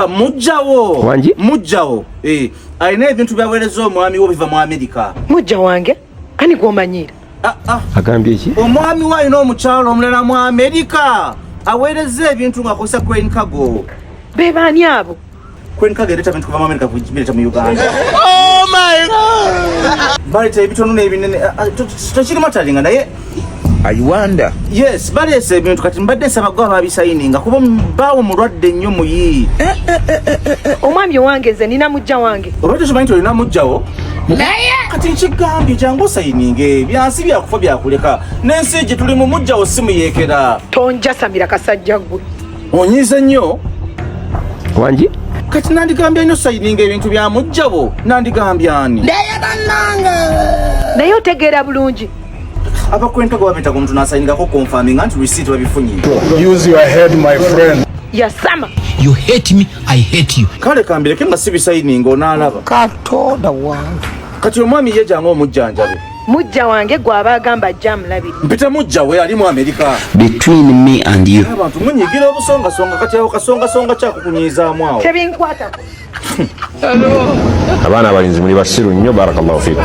ah, mujjawo wangi mujjawo eh alina ebintu byawereza omwami wo biva mu amerika mujja wange ani gwomanyira ah, ah. agambye ki omwami wo alina omukyalo omulala mu amerika awereza ebintu ng'akozesa crane cargo be baani abo crane cargo ereeta bintu kuva mu amerika bireeta mu uganda oh my god baleeta ebitono n'ebinene tekirima talinga naye ayiwanda yes baleese ebintu kati mbadde nsaba gwe ababisayininga kuba baawo mulwadde nnyo muyi eh, eh, eh, omwami owange nze nina mujja wange oba tokimanyi nti olina mujjawo naye kati nkigambye jangu osayininge byansi byakufa byakuleka n'ensi gye tuli mu mujjawo simuyeekera tonjasamira kasajja gwe onyiize nnyo wangi kati nandigambye nyo sayininga ebintu bya mujjawo nandigambye ani naye bannange naye otegeera bulungi abakwentego babeta ku muntu nasayinigako confirming anti receipt babifunye use your head my friend yasama you hate me i hate you kale kambireke nga sibisayininga onaalaba katonda wange kati omwami ye jange omujjanjabe mujja wange gwaba agamba ajja mulabi mpita mujja we ali mu amerika between me and you abantu munyigira obusongasonga kati awo kasongasonga kyakukunyiizaamu awo tebinkwatako abaana abalinzi muli basiru nnyo barakallahu fikum